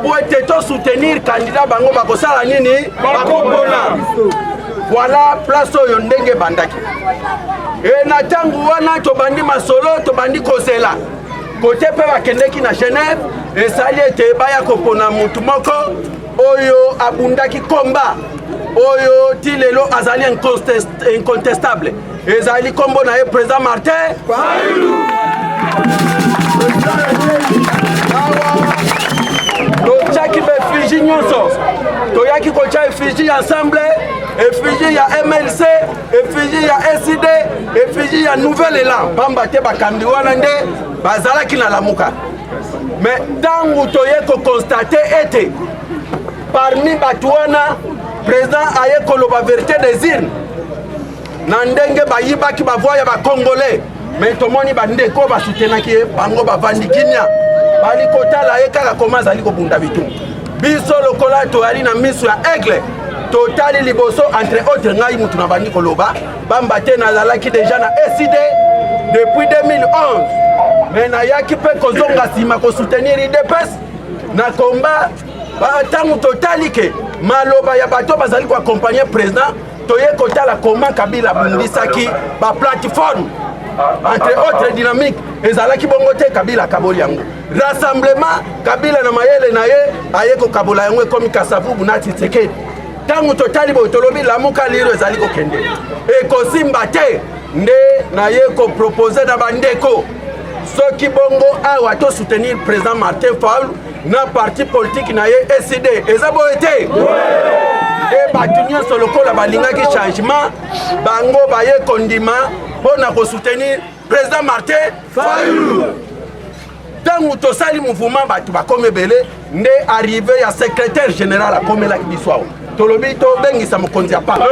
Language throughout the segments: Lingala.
mpo ete to soutenir candidat bango bakosala nini bakopona voilà place oyo ndenge ebandaki e na ntango wana tobandi masolo tobandi kozela kote mpe bakendeki na genève esali ete baya kopona motu moko oyo abundaki komba oyo ti lelo azali incontestable ezali kombo na ye president martin totyaki baefiji nyonso toyaki kotya efiji ya ensemble efiji ya mlc efiji ya sid efiji ya nouvel elan mpamba te bakambi wana nde bazalaki na lamuka me ntango toye kokonstate ete parmi bato wana président aye koloba verité des urnes na ndenge bayibaki bavoi ya bacongolais me tomoni bandeko basutenaki ye bango bavandi kimia bali kotala ye kaka koma azali kobunda bitu biso lokola toyali na miso ya aigle totali liboso entre autre ngai motu nabandi koloba bamba te nazalaki deja na ecd depuis 2011 me nayaki mpe kozonga nsima kosoutenir idps na komba ntango totali ke maloba ya bato bazali koakompagne président toye kotala comment kabila abundisaki baplateforme entre autres dynamique ezalaki bongo te kabila akaboli yango rassemblement kabila na mayele na ye aye kokabola yango ekomi kasavubu na tshisekedi ntango totali boye tolobi lamuka liro ezali kokende ekosimba te nde naye kopropose na bandeko soki bongo awa to soutenir président martin faulu na parti politiki na ye ecd eza boye te e bato nyonso lokola balingaki changement bango baye kondima mpo na kosoutenir président martin fayulu ntango tosali mouvement bato bakomi ebele nde arrive ya secrétaire général akomelaki biso awa tolobi tobengisa mokonzi ya paka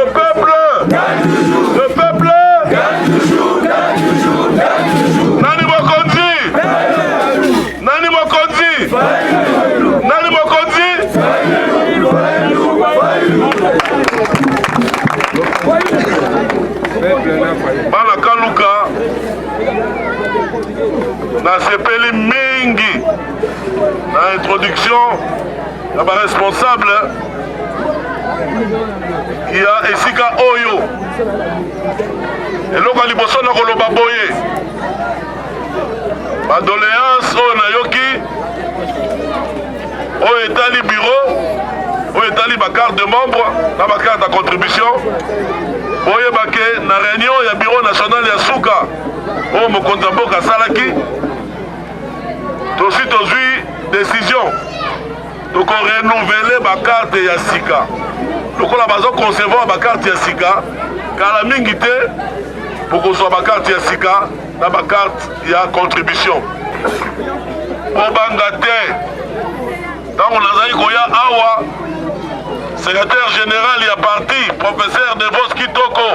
nani mokonzi nani mokonzi nani mokonzi bana kaluka nasepeli mingi na introduction na ba responsable ya esika oyo eloko ya liboso na koloba boye badoleance oyo nayoki oyo etali biro oyo etali bacarte de membre na bacarte ya contribution boyebake na réunion ya biro national ya suka oyo mokonzi ya mboka asalaki tosi tozwi decision toko renouvele bakarte ya sika lokola bazo concevoir bakarte ya sika kala mingi te bokozwa bakarte ya sika na bakarte ya contribution kobanga te ntango nazali koya awa secrétaire général ya parti professeur devos kitoko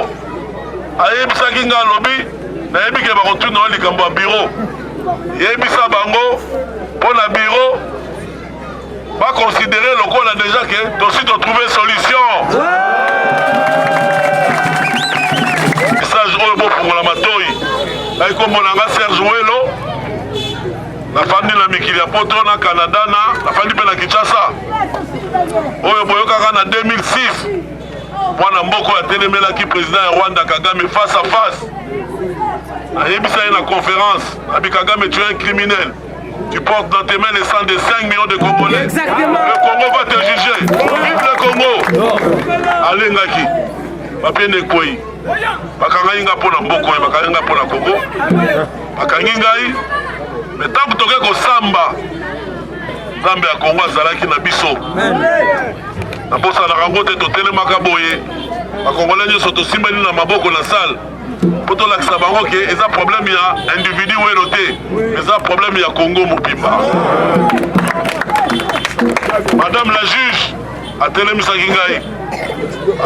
ayebisaki nga alobi nayebi ke bakotuna yo likambo ya biro yebisa bango mpo na biro bakonsidere lokola deja ke tosi totrouve solution message oyo bofungola matoi ngai komona nga serge welo nafandi na mikili ya poto na canada na nafandi mpe na kinshasa oyo boyokaka na 2006 mwana mboka oyo atelemelaki president ya rwanda kagame face à face ayebisa ye na conférence abi kagame tu es un criminel tu portes dans tes mains le sang de 5 millions de congolais Exactement. le congo va te juger vive le congo alengaki bapende ekwei bakangaki ngai mpo na mboko ye bakangi ngai mpo na kongo bakangi ngai me ntango toke kosamba nzambe ya kongo azalaki na biso nabosanaka yango te totelemaka boye bakongole nyonso tosimbani na maboko na sale mpo tolakisa bango ke eza probleme ya individu welo te eza probleme ya kongo mobimba madame la juge atelemisaki ngai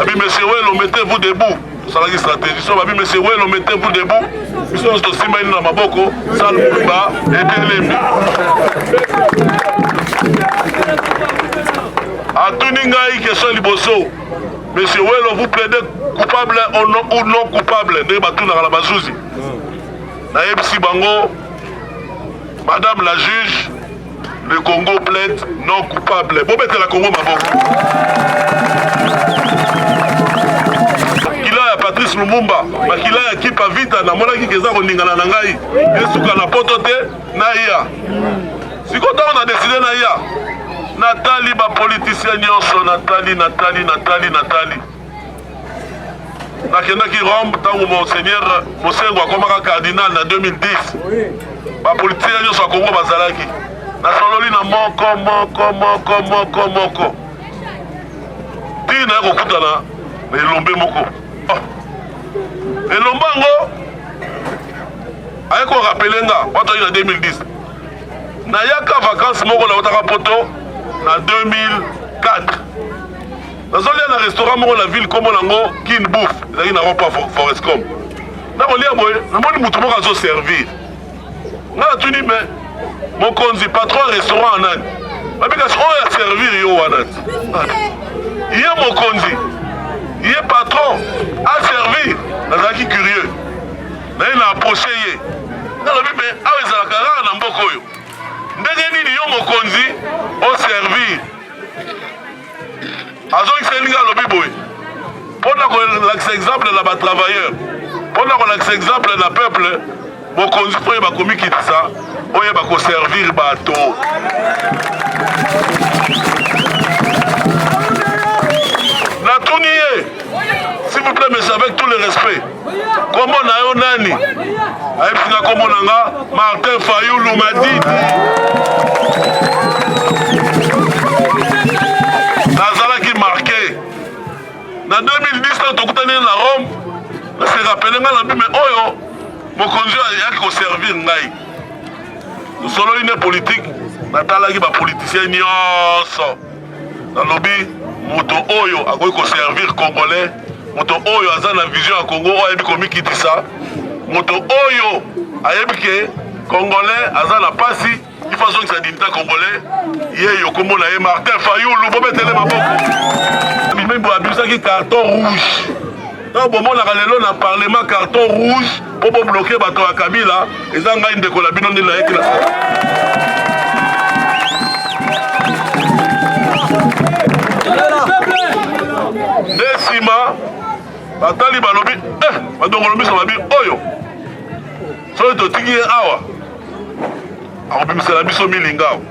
abi monsieur welo mettez vous debout tosalaki stratégie so babi monsieur welo mete vous debout biso nyonso tosimba ino na maboko sal muluba etelemi atuni ngai question liboso monsieur welo vous plaidez coupable ou non coupable ndenge batunaka na bazuzi nayebisi bango madame la juge Le Congo plaide non coupable. Bon, la Congo, maman. Patrice Lumumba makila ya kipa vita namonaki keza koningana na ngai esuka na poto te naya sikoyo ntango na deside naya natali bapolitisien nyonso natali natali natali natali nakendaki Rome ntango monseigneur Mosengo akomaka cardinal na 2010 bapolitisien nyonso ya Kongo bazalaki nasololi na moko moko moko moko moko ntina ya kokutana na elombe moko ah. elombe yango aye korapele nga wato ayi na 2010 nayaka vakanse moko nautaka poto na 2004 nazolia na restaurant moko na ville kombo nango kin bouf ezalaki na ropa forescom nakolia boye namoni moto moko azoservir nga natuni me mokonzi patron ya restaurant anani babikasi oyo oh, aservir yo wana ye mokonzi ye patron aservir nazalaki curieux naye na approche ye nalobi me awa ezalaka kaka na mboka oyo ndenge nini yo mokonzi oservir azongiseli nga alobi boye mpo na kolakisa exemple na batravailleur mpo na kolakisa exemple na peuple bokonzi mpo ye bakomikitisa oyo bakoservir bato natuni ye s'il vous plaît monsieur avec tout le respect Kombo na yo nani? Ayebisi na kombo na nga Martin Fayulu Madidi. Nazalaki marke na 2010 tokutani na Rome, nase rapele nga na bime oyo mokonzi oyo ayaki koservir ngai tosololi nde politike natalaki bapolitisien nyonso nalobi moto oyo akoki koservir congolais moto oyo aza na vision ya congo oyo ayebi komikitisa moto oyo ayebi ke congolais aza na pasi ifo azongisa dinita congolais ye yo kombo na ye martin fayulu bobetele maboko mimembo abimsaki carton rouge Tango bomonaka lelo na parlement carton rouge po bo bloquer bato ya Kabila, eza ngai ndeko na bino ndenge nayaki na nde nsima batali balobi eh, badongolo miso babi oyo soki totiki ye awa akobimisela biso milingao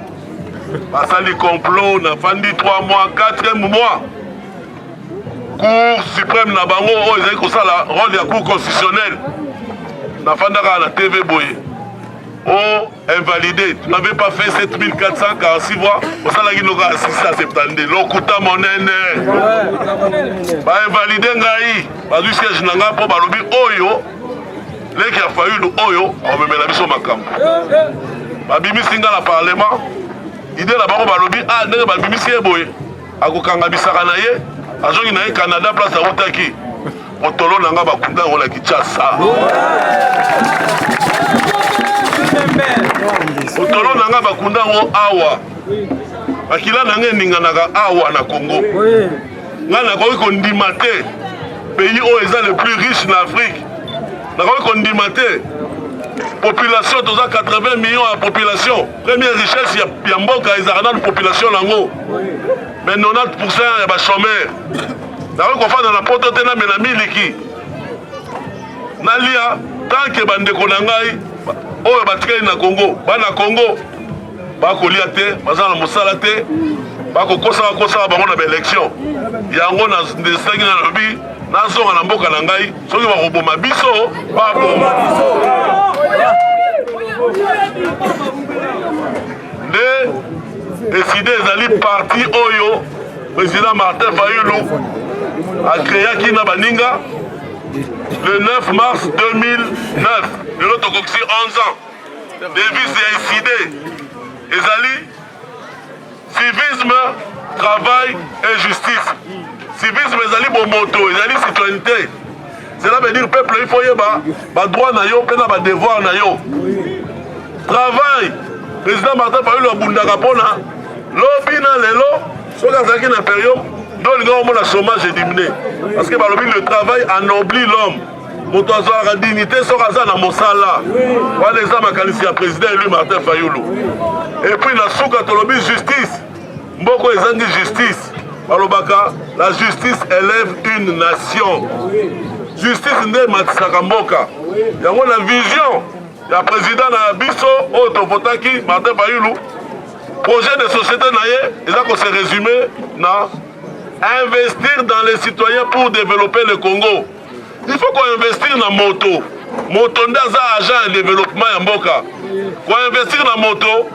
basali complot nafandi 3 mois 4 mois cour supreme na bango oyo ezali kosala role ya cour constitutionnelle nafandaka na tv boye o oh, invalidé tu n'avais pas fait 7446 voix osalaki noka ya 672 lokuta monene bainvalide ngai bazwi siège na ngai mpo balobi oyo leki ya fayulu oyo akomemela biso makambo babimisi ngai na parlement ide na bango balobi a ah, ndenge babimisi ye boye akokanga bisaka na ye azongi na ye canada place awutaki motolo na nga bakunda yango na kinshasa motolo na nga bakunda yango awa makila na nga eninganaka awa na congo ngai nakoki kondima te pays oyo eza le plus riche na afrique nakoki kondima te population toza 80 millions ya population Première richesse ya, ya mboka ezalaka nanu population nango mais 90% ya bachomeur nakoki kofanda na poto te namela miliki nalia tanke bandeko na ngai oyo batikali na congo bana congo bakolia te baza na mosala te bakokosaka kosaka bango na baelection yango nasengi nalobi nazonga na mboka na ngai soki bakoboma biso baboma biso nde eside ezali parti oyo président martin fayulu akreaki na baninga le 9 mars 2009 lelo tokokisi 11 ans devise ya eside ezali Civisme, travail et justice. Civisme ezali bomoto, ezali citoyenneté. Cela veut dire peuple il faut yeba ba droit na yo pe na ba devoir na yo. Travail, président Martin Fayulu abundaka pona lobi na lelo soki azalaki na imperium nde olinga omona chômage edimine parce que balobi le travail anobli l'homme moto azwaka dignité soki aza na mosala wana eza makanisi ya président élu martin fayulu epuis na suka tolobi justice mboko ezangi justice balobaka la justice élève une nation justice nde ematisaka mboka yango na vision ya président na biso oyo tovotaki martin fayulu projet de société na ye eza ko se résumer na investir dans les citoyens pour développer le congo il faut koinvestir na moto moto nde aza agent ya développement ya mboka koinvestir na moto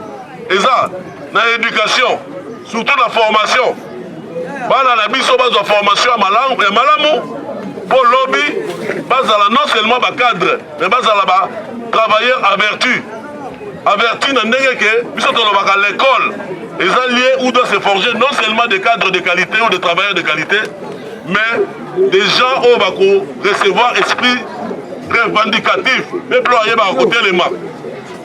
eza na éducation surtout na formation bana na biso bazwa formation ya malamu, ya malamu mpo lobi bazala non seulement bacadre mais bazala ba travailleur averti averti na ndenge ke biso tolobaka l'école eza lieu où doit se forger non seulement des cadres de qualité ou des travailleurs de qualité mais des gens oyo bako recevoir esprit revendicatif peuple oyo ayebaka kotelema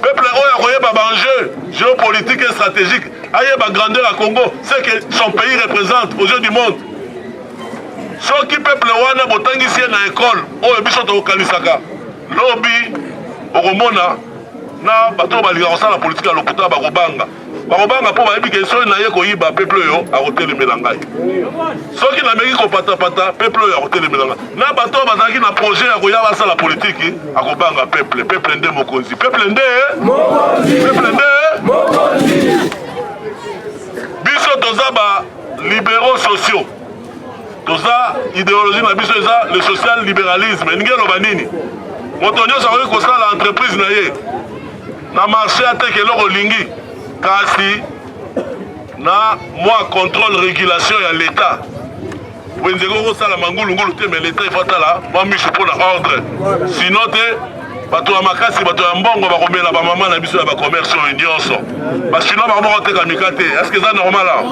peuple oyo akoyeba baenjeu géopolitique et stratégique ayeba grandeur ya congo ce que son pays représente aux yeux du monde soki peuple wana botangisi ye na ekole oyo biso tokokanisaka lobi okomona na bato oyo balingaka kosala politike ya lokuta bakobanga bakobanga mpo bayebi ke soki naye koyiba peple oyo akotelemela ngai soki nameki kopatapata peple oyo akotelemela ngai na bato oyo bazalaki na projet ya koya basala politiki akobanga peple peple nde mokonzi peple nde peple nde biso toza ba libéraux sociaux toza ideologie na biso eza le social libéralisme elingi eloba nini moto nyonso akoki kosala entreprise na ye Na marche ateka eloko olingi kasi na mwa contrôle régulation ya l'État wenze eko kosala mangulungulu te mais l'État ifo atala mwa misu mpo na ordre sino te bato ya makasi bato ya mbongo bakomela bamama na biso ya bacommerce oyo nyonso bachinois bango moko teka mika te eske eza normal awa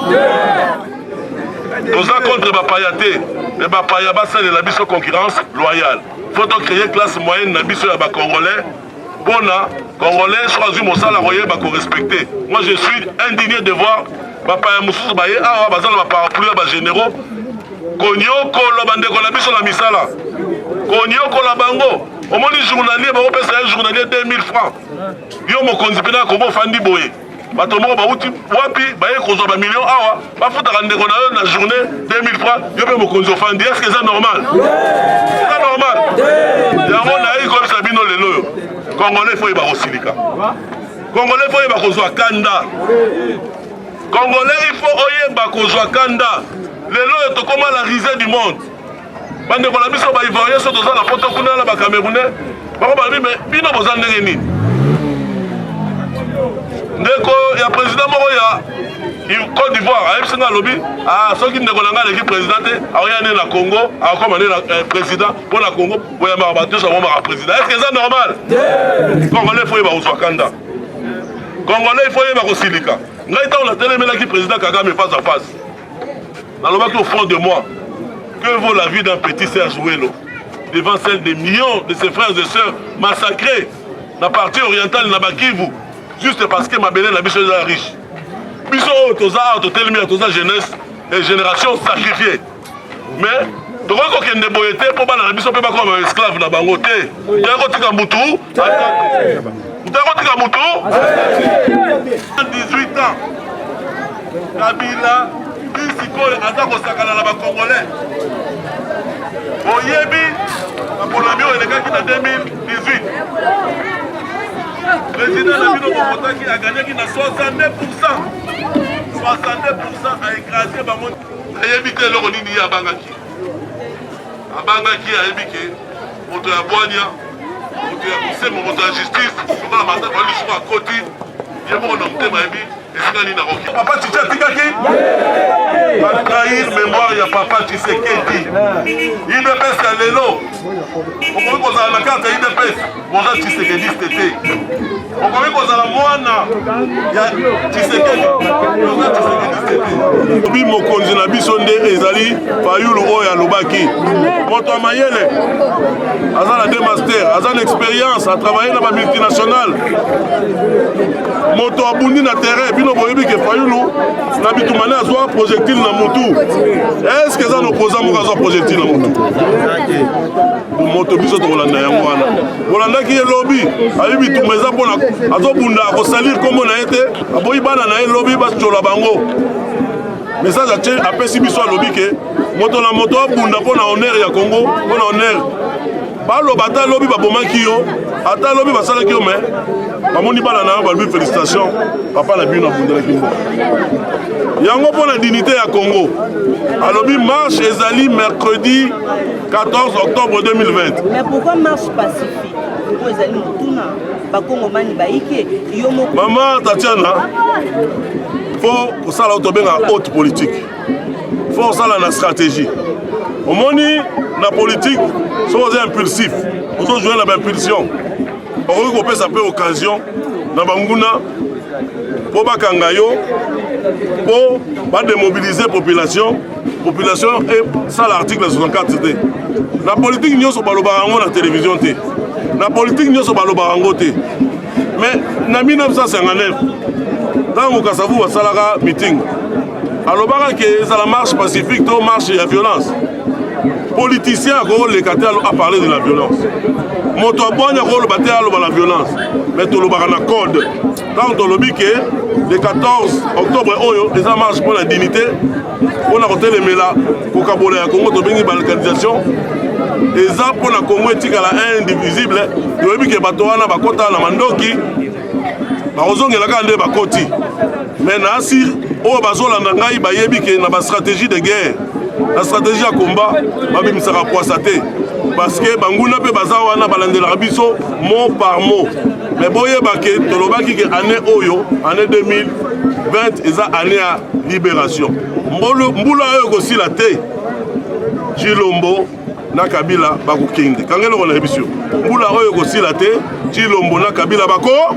toza contre bapaya te me bapaya basalela biso concurrence loyale fo tocreye classe moyenne na biso ya bacongolais Bona congolais soki azwi mosala koyeba ko respecter. Moi je suis indigné de voir bapaya mosusu baye awa baza na baparapluie ya bagénéraux konyokola bandeko na biso na misala konyokola bango omoni journalier bakopesa ye journalier 2000 francs yo mokonzi mpena kongo ofandi boye bato moko bauti wapi baye kozwa bamilio awa bafutaka ndeko na yo na journée 2000 francs yo mpe mokonzi ofandi eske eza normal eza normal yango nayi koyebisa bino lelo oyo congolais fo yeba kosilika congolais fo yeba kozwa kanda congolais ifo oyeba kozwa kanda lelo oyo tokoma la risée du monde bandeko na biso baivoirien so toza na poto kuna na bacamerounais bakobalobi me bino boza ndenge nini ndeko ya président moko ya Côte d'Ivoire ayebisi nga alobi ah, soki ndeko na ngai aleki président te akoya nde na Congo akokoma nde na eh, président mpo na Congo boyambaka bato nyonso akomaka président est ce que eza normal congolais fo yeba kozwa kanda congolais fo yeba kosilika ngai ntango natelemelaki président kagame face à face nalobaki au fond de moi que vaut la vie d'un petit serge welo devant celle des millions de ses frères et sœurs massacrés na partie orientale na bakivu juste parce que mabele na biso eza riche biso oyo toza awa totelemi ya toza jeunesse et génération sacrifiée mais tokoki kokende boye te mpo bana na biso mpe bakoma baesclave na bango te Ndeko tika mutu. Ndeko tika mutu. 18 ans. Kabila sikoyo aza kosakana na bakongolais oyebi maponami oyo elekaki na 2018 président na bino bokotaki aganyaki na 62 pourcent 62 pourcent aekrase bango ayebi te eloko nini ye abangaki abangaki ayebi ke moto ya bwania moto ya bosembo moto ya justice lokola mata bali lisuku akoti ye moko na motema yebi esika nini akoki papa titi atikaki batrahir mémoire ya papa tisekedi idps ya lelo okoki kozala na karte ya idps boza tisekediste te okomi kozala mwana ya tshisekedi oza tshisekedi obi mokonzi na biso nde ezali fayulu oyo alobaki moto ya mayele aza na de master aza na expérience atravaille na bamultinationale moto abundi na terrain bino boyebi ke fayulu na bitumane azwa projectile na mutu eske eza na opposant moko azwa projectile na mutu moto biso tokolanda yango wana bolandaki ye lobi ayebi bitumba eza mpona azobunda akosalir nkombo na ye te aboyi bana na ye lobi batyola bango message atie apesi biso alobi ke moto na moto abunda mpo na honneur ya congo mpo na honneur baloba ata lobi babomaki yo ata lobi basalaki yo me bamoni bana na yo balobi félicitation papa na bino abundelaki mboka yango mpo na dignité ya congo alobi marche ezali mercredi 14 octobre 2020 mais pourquoi marche pacifique oyo ezali motuna bakongomani bayike yo moko mama tatiana fo kosala oyo tobengaka haute politique fo kosala na stratégie omoni na politique soki oza impulsif ozojoue na baimpulsion okoki kopesa mpe occasion na banguna mpo bakanga yo mpo bademobilize population population esala article ya 64 te na politike nyonso balobaka yango na televizio te na politike nyonso balobaka yango te mais na 1959 ntango kasavu basalaka meeting alobaka ke ezala marche pacifique to marche ya violence politicien akoleka te aparle de la violence moto abwani akoloba te aloba la violence mais tolobaka na code ntango tolobi ke le 14 octobre oyo eza marche mpo na dignité mpo na kotelemela kokabola ya congo tobengi balkanisation eza mpo na congo etikala indivisible toyebi ke bato wana bakota na mandoki bakozongela kaka nde bakoti me na asi oyo bazolanda ngai bayebi ke na bastratégie de guerre na stratégie ya combat babimisaka pwasa te parce que banguna mpe baza wana balandelaka biso mot par mot me boyeba ke tolobaki ke année oyo année 2020 eza année ya libération mbula oyo ekosila te cilombo na kabila bakokende kanga eloko na yebisi yo mbula oyo ekosila te cilombo na kabila bako